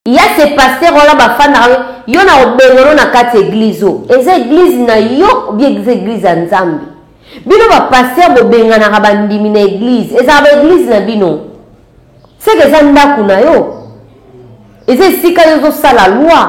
Il y a ces pasteurs wana bafandaka yo na obengano na kati eglise oyo eza eglise na yo obi eza eglise ya nzambe bino bapaster bobenganaka bandimi na eglise ezalaka baeglise na bino seke eza ndako na yo eza esika yo ozosala loi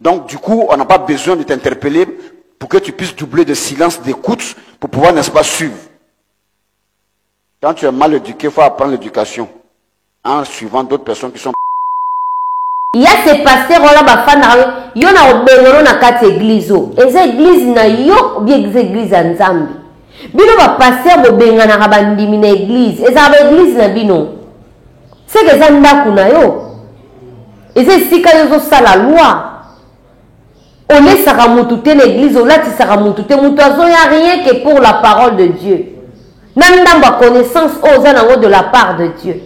Donc du coup, on n'a pas besoin de t'interpeller pour que tu puisses doubler de silence d'écoute pour pouvoir, n'est-ce pas, suivre. Quand tu es mal éduqué, il faut apprendre l'éducation en suivant d'autres personnes qui sont ya se paster wana bafandaka yo yo na obengano na kati eglize oyo eza eglize na yo obi eza eglize ya nzambe bino bapaster bobenganaka bandimi na eglize ezalaka baeglize na bino Seke eza ndaku na yo? Eza esika yo ozo sala loi? Olesaka mutu te na eglise, olatisaka mutu te, mutu azo ya rien que pour la parole de Dieu. Na ndambu ya connaissance oyo oza nango de la part de Dieu.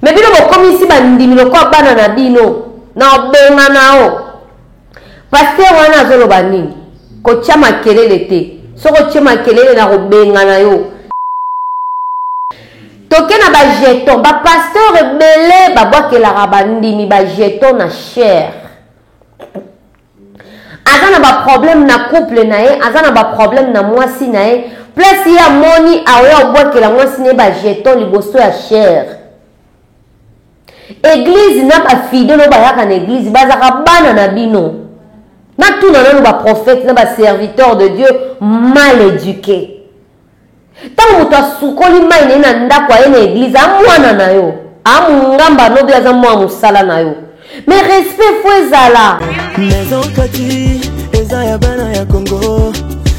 Mais bino bokomisi bandimi lokola bana na bino, na bonga na yo. Pasteur wana azoloba nini? Kotia makelele te. Soki otie makelele nakobengana yo. Toke na ba jeton. Ba pasteur ebele babwakelaka bandimi ba jeton na cher. Aza na ba problème na couple na ye, aza na ba problème na mwasi na ye. Place ye amoni aoya obwakela mwasi na ye ba jeton liboso ya cher. Eglise na ba fidèle oyo bayaka na eglise bazaka bana na bino. Natuna nanu ba prophète na ba serviteur de Dieu mal eduqué. Ntango moto asukoli mai na ye na ndako aye na eglise amwana na yo amungamba nobi aza mwa mosala na yo me respect fo ezala maison kati eza ya bana ya congo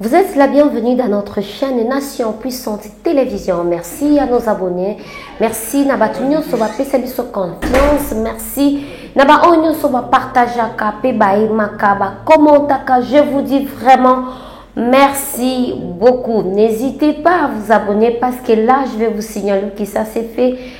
Vous êtes la bienvenue dans notre chaîne Nation Puissante Télévision. Merci à nos abonnés. Merci na batu nyonso ba pesa biso confiance. Merci na ba oyo nyonso ba partageaka pe ba aimaka ba commentaka. Je vous dis vraiment Merci beaucoup. N'hésitez pas à vous abonner parce que là, je vais vous signaler que ça s'est fait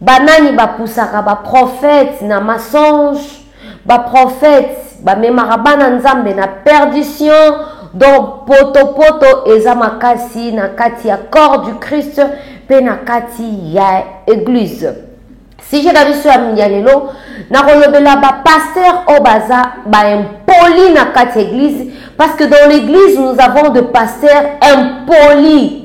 Banani ba pusaka ba prophètes na mensonge? Ba prophètes ba memaka bana nzambe na perdition donc poto poto eza makasi na kati ya corps du Christ pe na kati ya eglise. Sujet na biso ya lelo nakolobela ba pasteurs oyo baza ba impoli na kati ya eglise parce que dans l'église nous avons de pasteurs impolis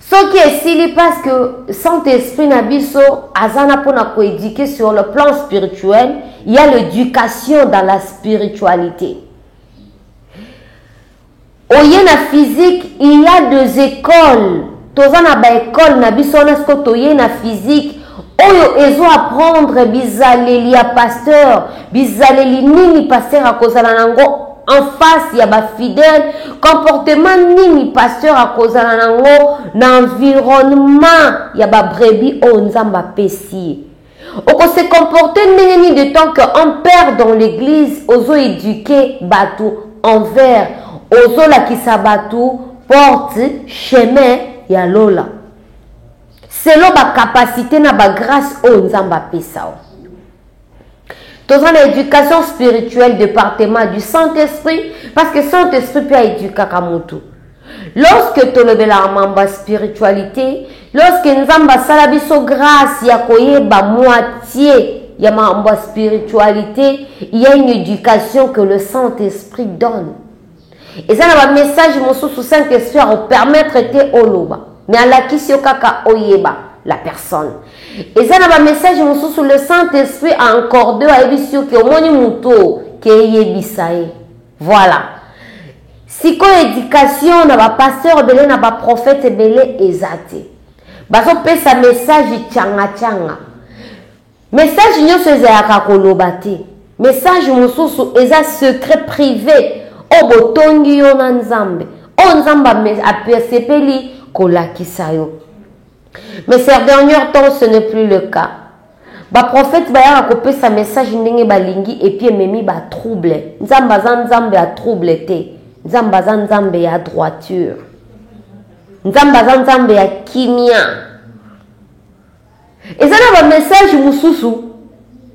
Soki esili parce que Saint Esprit na biso aza na pona ko eduquer sur le plan spirituel, il ya l'education dans la spiritualite. Oye na physique, il ya des ecoles, toza na ba ecoles na biso wana sikoyo toye na physique Oyo ezo apprendre bizaleli ya pasteur, bizaleli nini pasteur akozala na ngo en face ya ba fidèle, comportement nini pasteur akozala na ngo na environnement ya ba brebis oyo Nzambe apesi ye. Oko se comporter ndenge nini de temps que un père dans l'eglise ozo eduquer batu envers ozo lakisa batu porte chemin ya lola. selon ba capacite na ba grace oyo nzambe apesa o toza na éducation spirituelle département du saint esprit parce que saint esprit mpe aedukaka motu lorsque tolobelaka mambo ya spiritualité lorsque nzambe asala biso grâce ya koyeba moitié ya mambo ya spiritualité il y a une éducation que le saint esprit donne Eza na ba message mosusu saint esprit ako permettre te oloba mais alakisi yo kaka oyeba la personne eza na ba message mosusu le saint esprit a encorde yo ayebisi yo ke omoni mutu oyo ke yebisa ye voilà sikoyo education na ba pasteur ebele na ba prophète ebele eza te bazopesa message changa changa Message nionso ezayaka koloba te message mususu eza secret prive oyo botongi yo na nzambe oyo nzambe asepeli kolakisa yo mais ser dernier temps ce ne plus le cas ba prophète bayaka kopesa message ndenge balingi epuis ememi ba trouble nzambe aza nzambe ya trouble te nzambe aza nzambe ya droiture nzambe aza nzambe ya kimia Eza na ba message mususu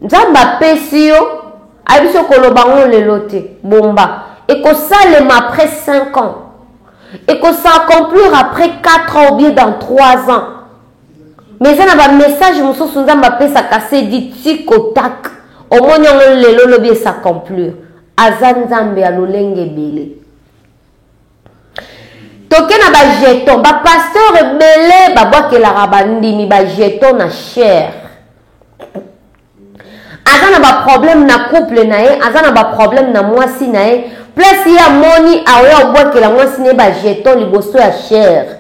nzambe apesi yo ayebisi yo koloba ngo lelo te bomba ekosalema après 5 ans eko sa accomplir après 4 ans ou bien dans 3 ans mais eza na ba message mususu nzambe apesaka se dit tikotak omoni yango lelo lobi esa accomplir aza nzambe ya lolenge ebele toke na ba jeton ba pasteur ebele babwakelaka bandimi ba jeton na chere aza na baproblème na couple na ye aza na baproblème na mwasi na ye place ye amoni aoya obwakela mwasi na ye bajeton liboso ya chere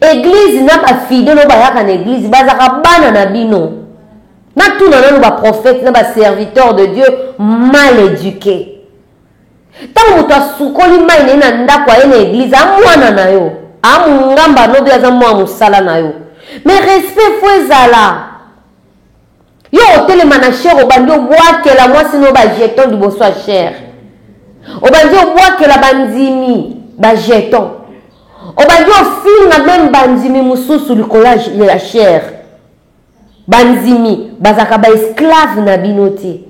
eglize na bafidele oyo bayaka na eglize bazaka bana na bino natuna nano baprofete na baserviteur de dieu mal éduqué Tango moto asukoli mayi na ye na ndako aye na eglise a muana na yo a mungamba lobi aza mua musala na yo mais respect faut ezala yo otelema na cher obandi obuakela muasi na yo ba jeton liboso ya cher obandi obuakela bandimi ba jeton obandi ofinga meme bandimi mosusu likolo ya cher Bandimi bazalaka ba esclave na bino te.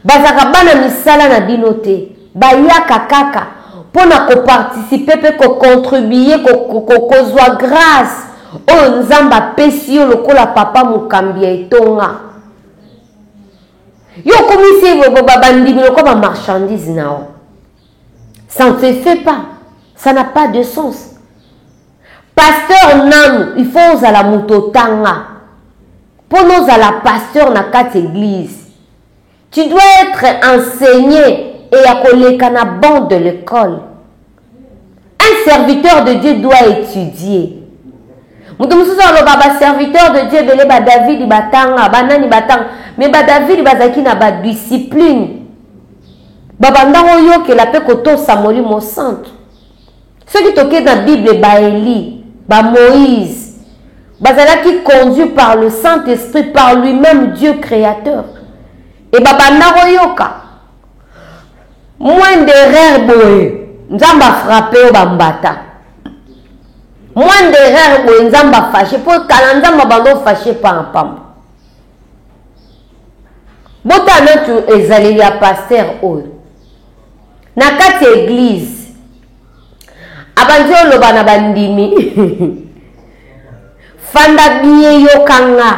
Bazalaka bana misala na bino te. Bayaka kaka mpo na koparticipe mpe kocontribue, kozwa grace oyo Nzambe apesi yo lokola papa mokambi ya etonga. Yo okomisi bandimi lokola bamarchandise na yo. Ça ne se fait pas. Ça n'a pas de sens. Pasteur nanu, il faut ozala moto otanga. Mpo nozala pasteur na kati église. Tu dois être enseigné et ya koleka na banc de l'école. Un serviteur de Dieu doit etudier. moto mosusu aloba baserviteur de dieu ebele badavidi batanga banani batanga me badavidi bazalaki na badiscipline babanda koyokela mpe kotosa molimo santu soki tokei na bible baeli bamoïse bazalaki conduit par le saint esprit par lui-même dieu créateur e babanda koyoka Moins d'erreur boye nzambe a frappe yo ba mbata. Moins d'erreur boye nzambe a fache po kala nzambe abando fache pa na pamba. Bota natu ezaleli ya pasteur oyo. Na kati ya eglise abandi oloba na bandimi fanda bien yokanga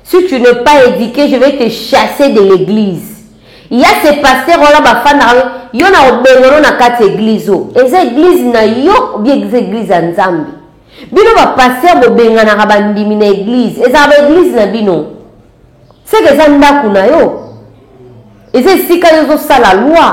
Si tu n'es pas eduque je vais te chasser de l'eglise ya ce pasteur wana bafandaka yo na obengono na kati eglise o eza eglise na yo obi eglise eglise ya nzambe bino bapasteur bobenganaka bandimi na eglise ezalaka baeglise na bino seke eza ndako na yo eza esika yo ozosala loi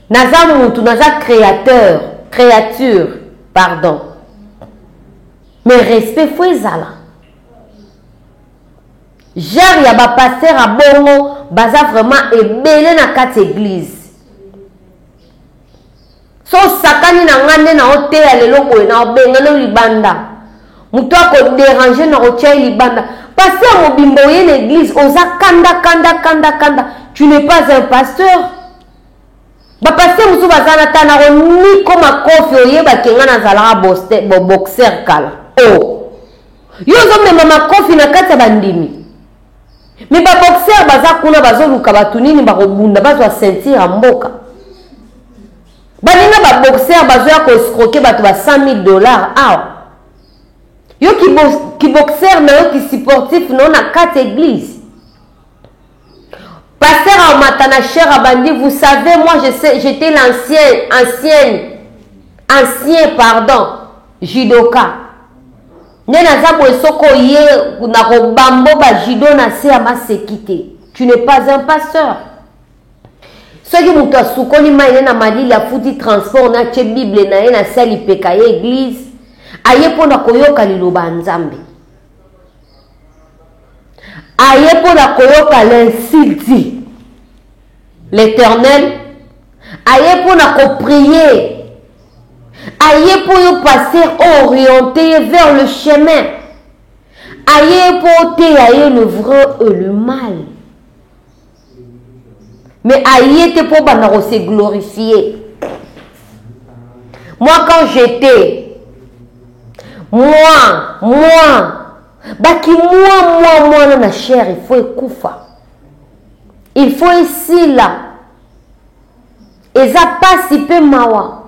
Naza mutu, naza createur, creature, pardon. Mais respect faut ezala. Genre ya ba pasteur a bongo baza vraiment ebele na kati église. so osakani na ngai nde naoteya lelo boye naobengana yo libanda moto akoderange na kotya ye libanda pasi ya mobimba oye na eglize oza kanda kanda kanda kanda tu n'es pas un pasteur Ba pasteur mususu baza na ta nako niko makofi oyeba kenga na zalaka bo boxer kala o oh. yo ozo mema makofi na kati ya bandimi me ba boxer baza kuna bazo luka batu nini bako bunda bazwa ceinture ya mboka baninga ba boxer bazo ya ko escroquer batu ba 100000 dollars awa yo ki boxer na yo ki supportif na yo na kati eglise Pasteur amata na cher abandi vous savez moi je sais j'étais l'ancienne ancienne ancien pardon judoka nde naza boye soko ye na kobambo bajudo na se ya maseki te tu n'es pas un pasteur soki moto asukoli mai ne na malili afuti transport na atye bible na ye na se ya lipeka ye eglize aye mpo na koyoka liloba ya nzambe Aye mpo na koyoka l'insulte l'eternel aye mpo na ko prier aye mpo yo pasteur o oriente ye vers le chemin aye mpo oteya ye le vrai et le mal mais aye te mpo banda ko se glorifier moi quand j'étais moi moi bakimwa mwa mwana na chair il faut ekufa il faut esila eza mpasi mpe mawa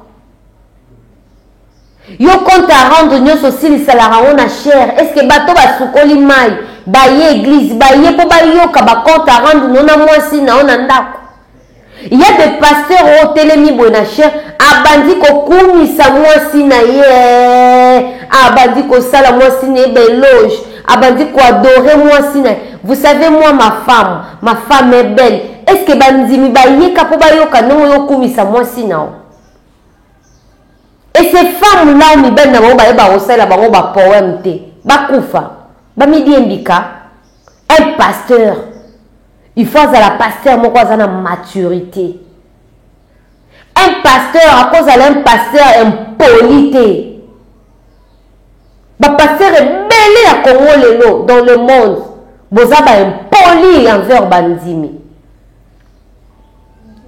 Yo compte à rendre nionso osilisa la rango na chair est ce que bato basukoli mayi baye eglise baye mpo bayoka ba compte à rendre no na mwasi na yo na ndako il y a des pasteurs oyo otelemi boye na chair abandi kokumisa mwasi na ye abandi kosala mwasi na ye beloge abandi koadore mwasi na ye vous savez moi ma femme ma femme est belle est ce que bandimi bayeka mpo bayoka ndenge oyo okumisa mwasi na yo Et ces femmes là mibali na bango bayeba kosalela bango ba poème te bakufa bamidie mbika un pasteur il faut azala pasteur moko aza na maturité un pasteur akozala un pasteur impoli te bapasteur ebele ya congo lelo dans le monde boza baimpoli envers bandimi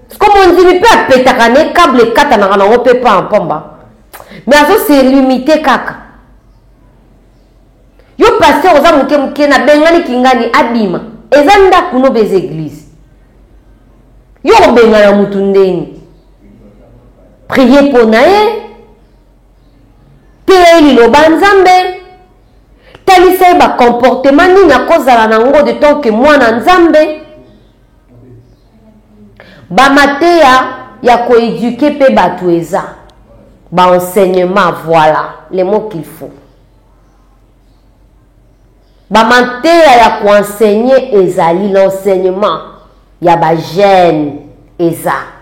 siko mondimi mpe apetaka ne cable ekatanaka nango mpe mpa mpomba me azo se limite kaka yo paster oza moke moke nabengani kingani abima eza ndako nobe eza eglise yo kobengana motu ndeni prie mpo na ye teya ye liloba nzambe talisa ye bacomportement nini akozala na yango de tant ke mwana nzambe Ba mateya ya ko eduquer mpe batu eza. Ba enseignements voila les mots qu'il faut. Ba mateya ya ko enseigner ezali, l'enseignement ya ba jeunes eza.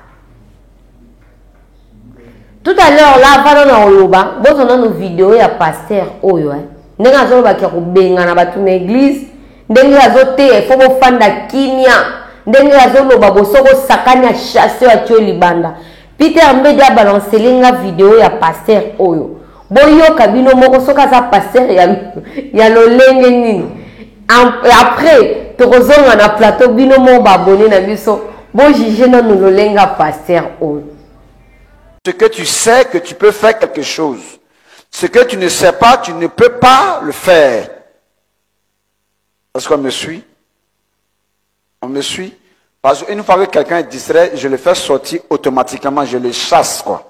Tout à l'heure là avant nanu akoloba bozwa nanu video ya pasteur oyo hein. ndenge azoloba kia kobengana bato na eglise ndenge azoteya ifo bofanda kimia ndenge azoloba boso bosakani ya chasse ya tio libanda peter mbedi abalancele nga video ya pasteur oyo Boyoka bino moko soki aza pasteur ya, ya lolenge nini. Après, tokozonga na plateau bino moko babone na biso. Bo juge nanu lolenga pasteur oyo. Ce que tu sais que tu peux faire quelque chose. Ce que tu ne sais pas, tu ne peux pas le faire. Est-ce qu'on me suit On me suit Parce qu'une fois que quelqu'un est distrait, je le fais sortir automatiquement, je le chasse, quoi.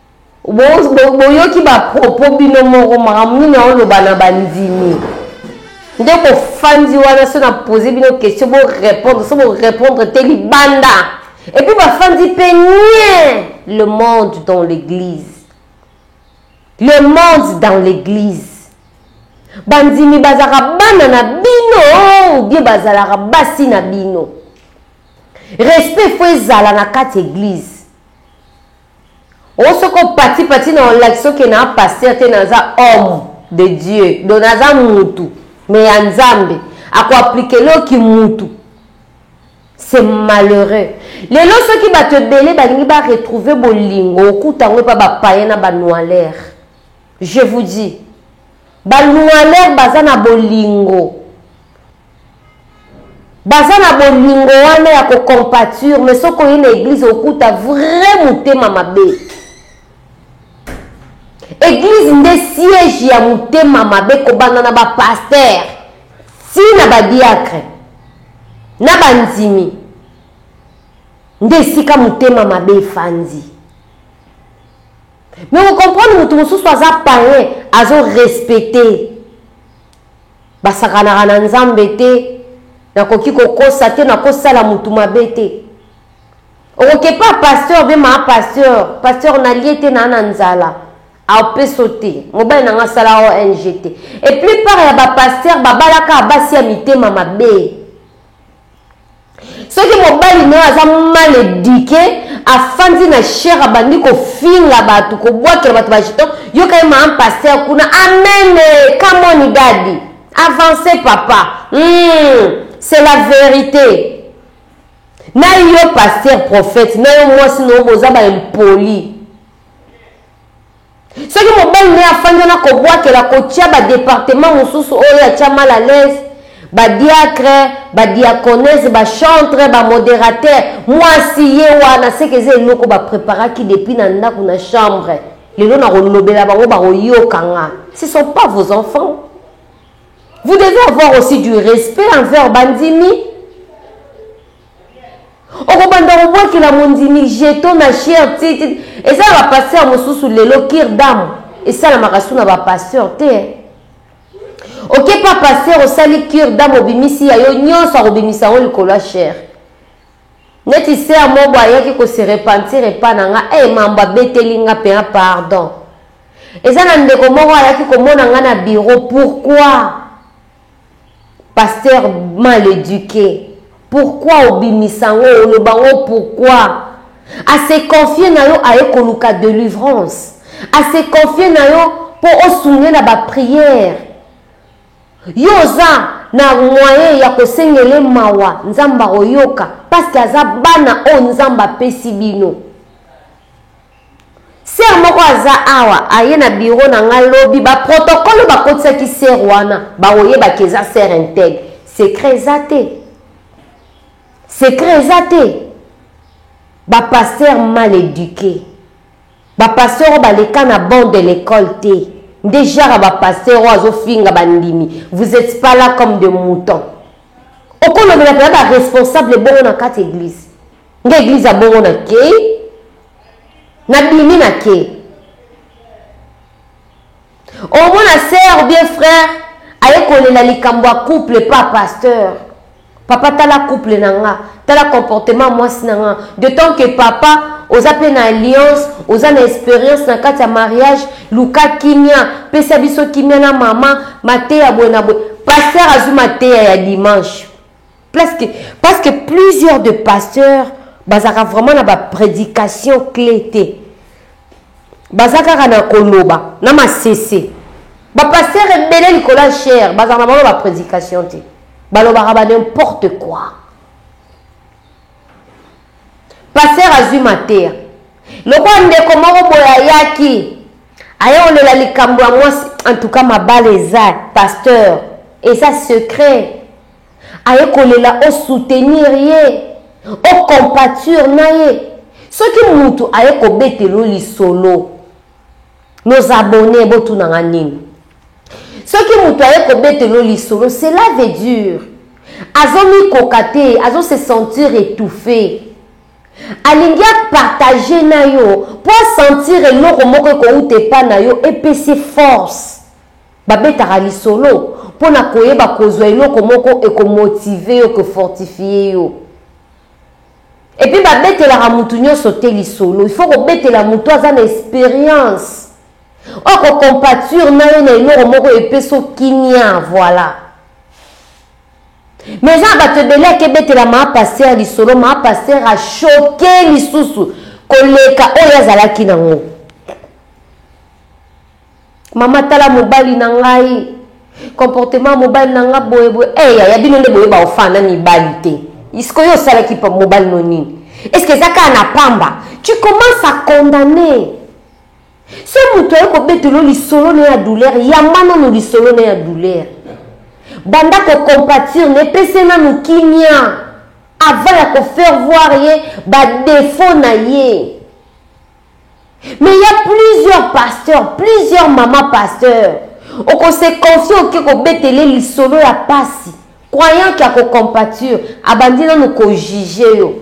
Bo, bo, boyoki ba propos bino moko makambo nini aoloba na bandimi nde bofandi wana so na pose bino question bo répondre so bo répondre te libanda et puis bafandi mpe nie le monde dans l'église le monde dans l'église bandimi bazalaka bana na bino ou bien bazalaka basi na bino respect fo ezala na kati eglize Oyo soki opati pati na olakisi oke na pasteur te naza homme de Dieu donc naza mutu mais ya nzambe ako appliquer yo ki mutu c'est malheureux lelo soki batu ebele balingi ba retrouver bolingo okuta ngo epa ba payen na ba noiler je vous dis ba noiler baza na bolingo baza na bolingo wana ya kocompature mais soki oye na eglise okuta vrai motema mabe eglise nde siège ya motema mabe kobanda na bapaster ti na badiacre na bandimi nde esika motema mabe efandi me okomprendre moto mosusu aza payen azo respecte basakanaka na nzambe te nakoki kokosa te nakosala mutu mabe te okokepa pasteur be maa pasteur pasteur nalie te naa na nzala apeso te mobali na nga sala ong te eplupart ya bapasteur babalaka basi ya mitema mabe soki mobali na yo aza mal eduke afandi na shere abandi kofinga bato kobwakela bato bajeton yoka ye maan paster kuna amene kamoni dadi avance papa mm, c'est la verite na yo paster prophète na yo mwasi na yo boza baimpoli Soki mobali naye afandi wana kobwakela kotia ba departement mosusu oyo atia mal à l'aise ba diacre, ba diaconese, ba chantre, ba moderateur muasi ye wana seke eza eloko ba preparaki depuis na ndaku na chambre lelo nakolobela bango bakoyoka nga ce sont pas vos enfants vous devez avoir aussi du respect envers bandimi okobanda kobwakela mondimi jeto na sher ti eza na bapasteur mosusu lelo kir dame esalamaka su na bapasteur te eh. oke pa pasteur osali kir dame obimisi ya yo nyonso akobimisa yango likolo ya sher neti ser mobo ayaki kose repentir epa na nga e eh, mambo abeteli nga mpena pardon eza na ndeko moko ayaki komona nga na biro pourkui Pasteur mal eduque pourquoi obimisa yango oloba yango pourquoi a se confier na yo aye koluka delivrance a se confier na yo mpo osunge na ba prière yo oza na moyen ya kosengele mawa nzambe akoyoka parceke aza bana oyo nzambe apesi bino Sœur moko aza awa aye na bureau na nga lobi ba protocole oyo ba kotisaki sœur wana ba ko yeba que eza sœur integ secret eza te secret eza te ba pasteur mal eduque ba pasteur oyo ba leka na bon de l'ecole te nde genre ya ba pasteur oyo azo finga ba ndimi vous etes pas là comme de mouton okolobela pena ba responsable bongo na kati eglise Nga eglise ya bongo na kei na bimi na kei omona sœur bien frère aye kolela likambo ya couple pa pasteur papa tala couple na nga tala comportement mwasi na nga de temps que papa oza mpe na alliance oza na experience na kati ya mariage luka kimia pesa biso kimia na mama mateya boye na boye paster azwi mateya ya dimanche Parce que, parce que plusieurs de pasteurs bazaka vraiment na ba prédication clé te baza kaka na koloba na masese bapasteur ebele likolo ya chere bazaka na bango ba prédication te balobaka ba n'importe quoi Pasteur azui mateya. Lokola ndeko moko boye ayaki aye olela likambo ya mwasi en tout cas mabala eza pasteur eza secret aye kolela o soutenir ye o compature na ye soki mutu aye kobetelo lisolo nos abonne botunanga nini Soki mutu aye kobetelo yo lisolo cela veut dire azo mikoka te azo se sentir etouffe alingi a partager na yo po a sentir eloko moko ekowuta epa na yo epesi ye force babetaka lisolo pona koyeba kozua eloko moko eko motiver yo ko fortifier yo epuis babetelaka mutu nionso te lisolo il faut kobetela mutu aza na experience Oko compature na yo na eloko moko epesi yo kimia voila. Mais eza na bato ebele akebetela maa pasteur lisolo maa pasteur a choque lisusu koleka oyo azalaki nango. Mama tala mobali na ngai comportement ya mobali na nga boye boye eh yaya bino nde boyeba ofana mibali te isko yo osalaki mobali no nini est ce que eza kaka na pamba tu commence à condamner Soki moto aye kobetela yo lisolo na ya douleur, yamba nanu lisolo na ya douleur. Banda ko compatir na ye, pesa ye nanu kimia avant ya ko faire voir ye ba defauts na ye. Mais il y a plusieurs pasteurs, plusieurs mamans pasteurs. Oko se confier oke ko betele lisolo ya pasi. Croyant que ako compatir, abandi nanu ko juger yo.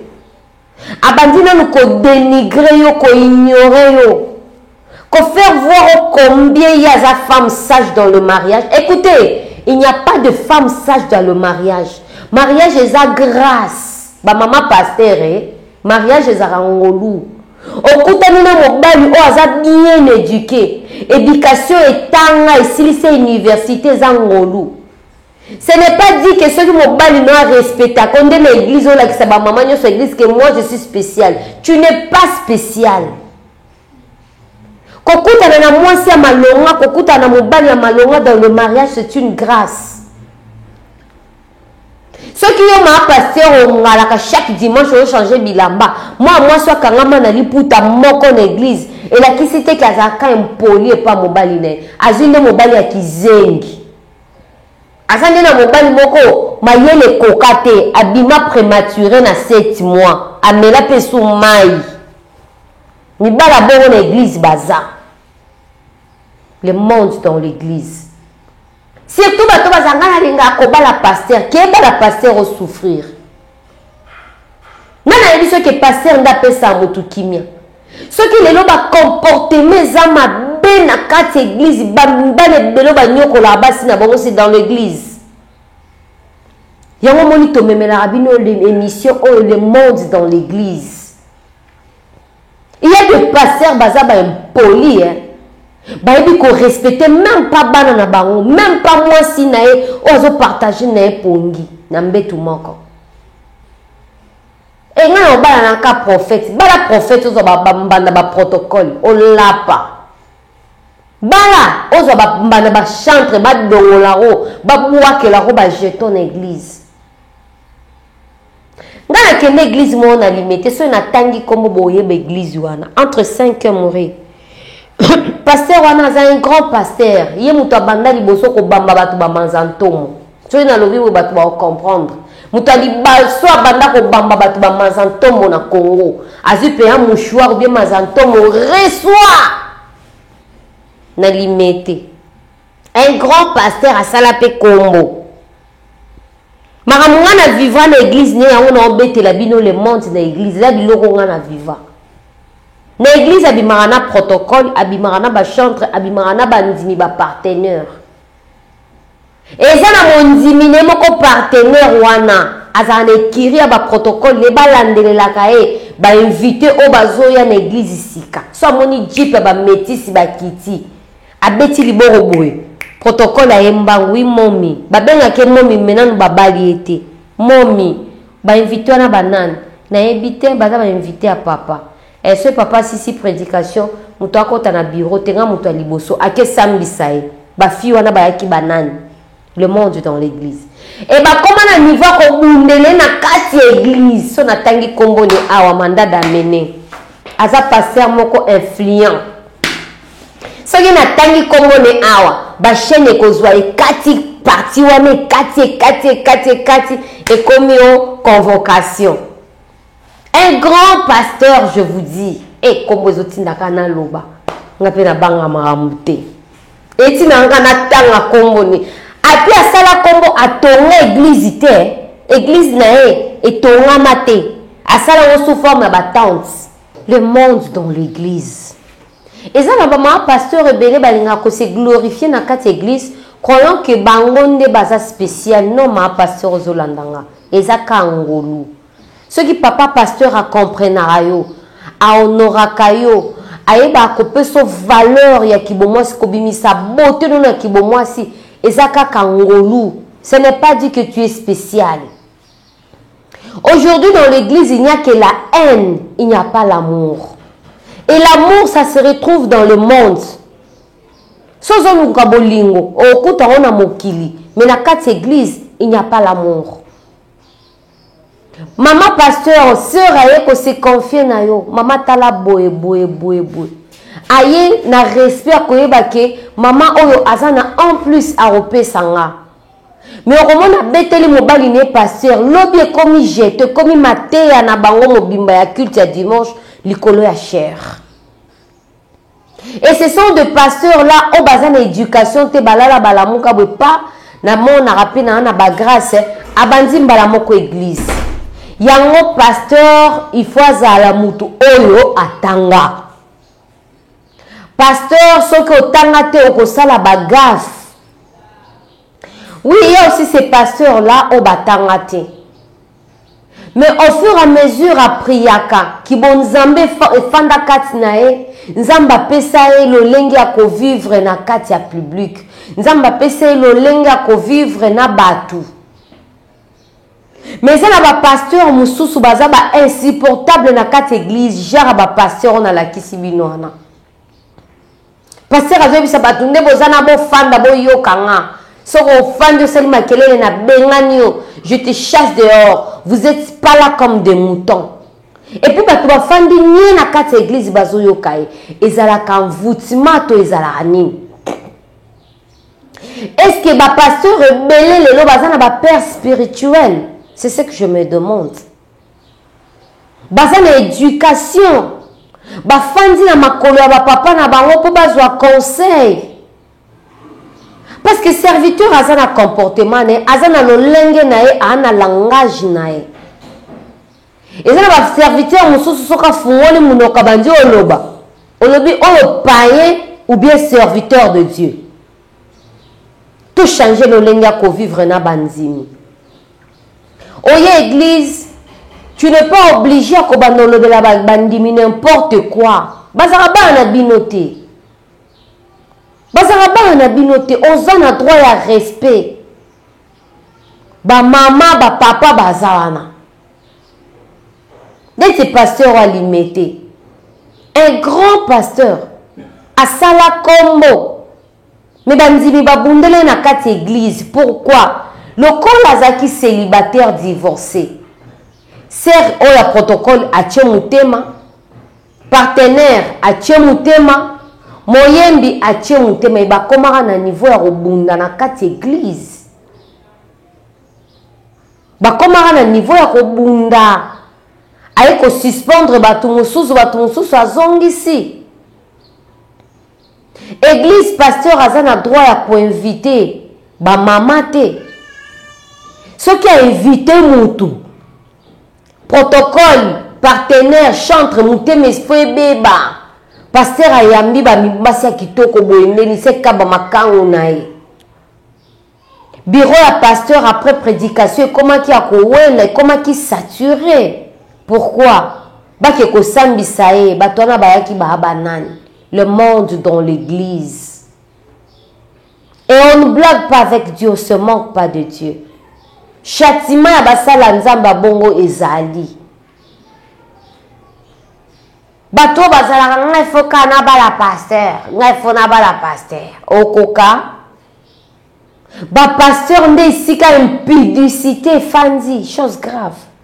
Abandi nanu ko denigrer yo, ko ignorer yo, ko faire voir yo combien ye aza femme sage dans le mariage. Ecoutez, il n'y a pas de femme sage dans le mariage. Mariage eza grace. Ba mama pasteur eh, mariage ezalaka ngolu. Okutani na mobali oyo aza bien eduque, education etanga, esilisa universite, eza ngolu. Ce n'est pas dit que soki mobali no a respectako nde na eglise olakisa ba maman nyonso ya eglise que moi je suis spécial. Tu n'es pas spécial. Kokutana na mwasi ya malonga, kokutana na mobali ya malonga dans le mariage c'est une grâce. soki yo maa paster ongalaka chaque dimanche ochange bilamba mwa mwasi akangama na liputa moko na eglize elakisi te ke azalaka impoli epa mobali na ye azwi nde mobali ya kizengi Aza nde na mobali moko mayele ekoka te abima premature na sept mois amela pe su mayi mibala bongo na eglise baza le monde dans l'eglise surtout bato bazanga nalinga kobala pasteur kebala pasteur osouffrir nani ayebi soki ke paster nde apesa motu kimia soki lelo bacomportema eza mabe na kati ya eglize bana ebelo banyokolaka basi na bango si dans l'église yango omoni tomemelaka bino émission oyo le monde dans l'église Il ya des pasteurs baza ba impoli hein. Bayebi ko respecter même pas bana na bango, même pas mwasi na ye oyo azo partager na ye pongi na mbetu moko. Et nga na obala na ka prophète, bala prophète ozo ba mbanda ba protocole, olapa. Bala ozo ba mbanda ba chantre ba dongola ro, ba buakela ro ba jeton na église. Nga na kende eglise moko na limete soki na tangi kombo boyeba eglise wana entre 5 heures mourir pasteur wana aza un grand pasteur ye moto abanda liboso kobamba bato bamanza ntomo soki nalobi boye bato baocomprendre moto ya libaso abanda kobamba bato bamanza ntomo na congo azwi mpe ya mouchoir obie manza ntomo resoir na limete un grand pasteur asala mpe kombo Makambo nga na vivra na eglise nde yango na obetela bino le monde na eglise eza biloko nga na vivra. Na eglise abimaka na protocole, abimaka na ba chantre, abimaka na ba ndimi ba partenaire. Eza na mondimi ne moko partenaire wana azala na ekiri ya ba protocole ne balandelelaka ye ba invite oyo bazoya na eglise sika. So amoni jeep ya ba metisi bakiti. Abeti liboro boye protocole aye mbangu oui momi babengaka ye momi mais nanu babali ye te momi ba invite wana ba nani nayebi te baza ba invite ya papa eh soki papa asisi predication mutu akota na bureau te nga mutu ya liboso ake sambisa ye ba fille wana bayaki ba nani le monde dans l'église e eh, bakoma na niveau ya kobundele na kati ya église so natangi nkombo ni awa manda damene aza paster moko influent soki natangi nkombo ni awa bachaine ekozwa ekati parti wana ekati ekati ekati ekati ekomi o convocation Un grand pasteur je vous dis. Eh kombo ezo tinda ka na loba. Nga pe na banga makambo te. Eti na nga na tanga kombo ni. Api asala kombo atonga église te. Église na ye etongama te. Asala ngo sous forme ya ba tentes. Le monde dans l'église. Eza na ba mama pasteur ebele balinga ko se glorifier na kati église croyant que bango nde baza spécial. Non ma pasteur ozo landanga. Eza ka ngolu. Soki papa pasteur a comprenaka yo, a honoraka yo, ayebaka ko peso valeur ya kibomwasi, kobimisa beaute no na kibomwasi, eza kaka ngolu, ce n'est pas dit que tu es speciale. Aujourd'hui dans l'eglise il n'y a que la haine, il n'y a pas l'amour. Et l'amour ça se retrouve dans le monde. So ozoluka bolingo, okuta ngo na mokili, mais na kati eglise, il n'y a pas l'amour. Maman pasteur sœur aye ko se confier na yo maman tala boye boye boye boye aye na respect ya koyeba ke maman oyo aza na en plus akopesa nga me okomona abeteli mobali ne pasteur lobi ekomi jete ekomi mateya na bango mobimba ya culte ya dimanche likolo ya chere Et ce sont de pasteurs là oyo baza na education te balala balamuka boye pa na monaka pe na na ba grace abandi mbala moko eglise yango pasteur il faut azala mutu oyo atanga pasteur soki otanga te okosala ba gaffe oui ye aussi ce pasteur là oyo batanga te Mais au fur à mesure a priaka, kibonzambe efanda kati na ye, Nzambe apesa ye lolenge ya ko vivre na kati ya public. Nzambe apesa ye lolenge ya ko vivre na batu. Mais eza na ba pasteurs mususu baza ba insupportable na kati eglise, genre ba pasteurs oyo nalakisi bino wana. Pasteur azoyebisa bato nde boza na bofanda boyoka nga soki ofandi osali makelele na bengani yo je te chasse dehors vous êtes pas là comme des moutons epuis bato bafandi nie na kati ya eglize bazoyoka ye ezalaka envoutima to ezalaka nini estce bapasteur ebele lelo baza na bapère spirituel c'est ce que je me demande baza na education bafandi na makolo ya bapapa na bango mpo bazwa conseil parceke serviteur aza na comportement na ye aza na lolenge na ye aa na langage na ye eza na baserviteur mosusu soki afungoli monoko abandi oloba olobi oyo payen ou bien serviteur de dieu To changer lolenge ya ko vivre na ba nzimi. Oye eglise, tu n'es pas obligé ya kobanda olobela ba ndimi n'importe quoi. Bazaka bana na bino te. Bazaka bana na bino te, oza na droit ya respect. Ba mama, ba papa baza wana. neti pasteur oyo alimete un grand pasteur asala kombo me bandimi babundele na kati eglise pourquoi lokola azalaki celibataire divorce ser oyo ya protocole atie motema partenaire atie motema moyembi atie motema ebakomaka na niveau ya kobunda na kati eglise Bakomaka na niveau ya kobunda. Aye ko suspendre batu mususu, batu mususu azongisi. Eglise pasteur aza na droit ya ko inviter ba mama te. Soki a inviter mutu, protocole, partenaire, chantre, motema esprit ebeba. Pasteur ayambi ba mibasi ya kitoko boye nde liseki kaba makangu na ye. Bureau ya pasteur après predication ekomaki ya kowela ekomaki sature pourquoi bake kosambisa ye bato wana bayaki baa banani le monde dans l'église et on ne blague pas avec Dieu on se manque pas de Dieu châtiment ya basala nzambe ya bongo ezali bato oyo bazalaka ngai fo kaka nabala pasteur ngai fo nabala pasteur okoka Ba pasteurs nde esika impudicite efandi, chose grave.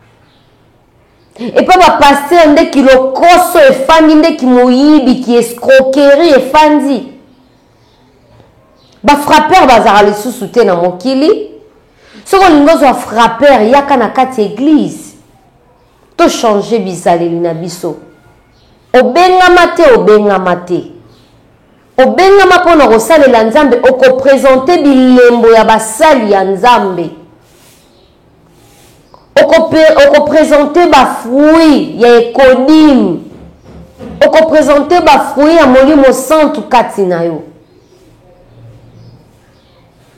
epa bapastere nde kilokoso efandi nde kimoyibi kiescroquerie efandi bafrappeur bazalaka lisusu te na mokili soki olingi ozwa frappeur yaka na kati ya eglize tochange bizaleli na biso obengama te obengama te Obengama mpo na kosalela Nzambe, oko presenter bilembo ya basali ya Nzambe. Oko, oko presenter ba fruits ya ecodim. Oko presenter ba fruits ya Molimo Santu kati na yo.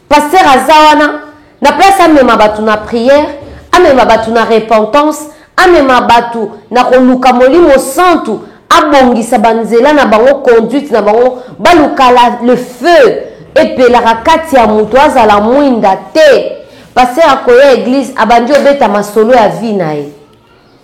Pasteur aza wana na place amema batu na prière, amema batu na repentance, amema batu na koluka molimo santu, abongisa ba nzela na bango, conduite na bango, baluka la le feu epelaka kati ya mutu azala muinda te. Pasteur akoya eglise abandi obeta masolo ya vie na ye.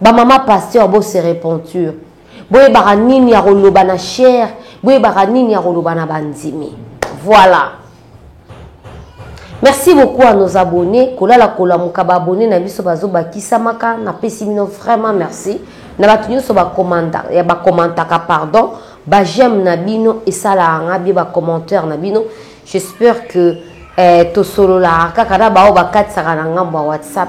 Ba mama pasteur bo se repentur boyebaka nini ya koloba na chair boyebaka nini ya koloba na bandimi voilà merci beaucoup à nos abonnés kolala kolamuka ba abonnés na biso bazobakisamaka napesi bino vraiment merci na bato nyonso bakomantaka eh, pardon ba j'aime na bino esalaka nga bie ba commentaire na bino j'espère que eh, tosololaka kaka na baoyo bakatisaka na ngambo ya whatsapp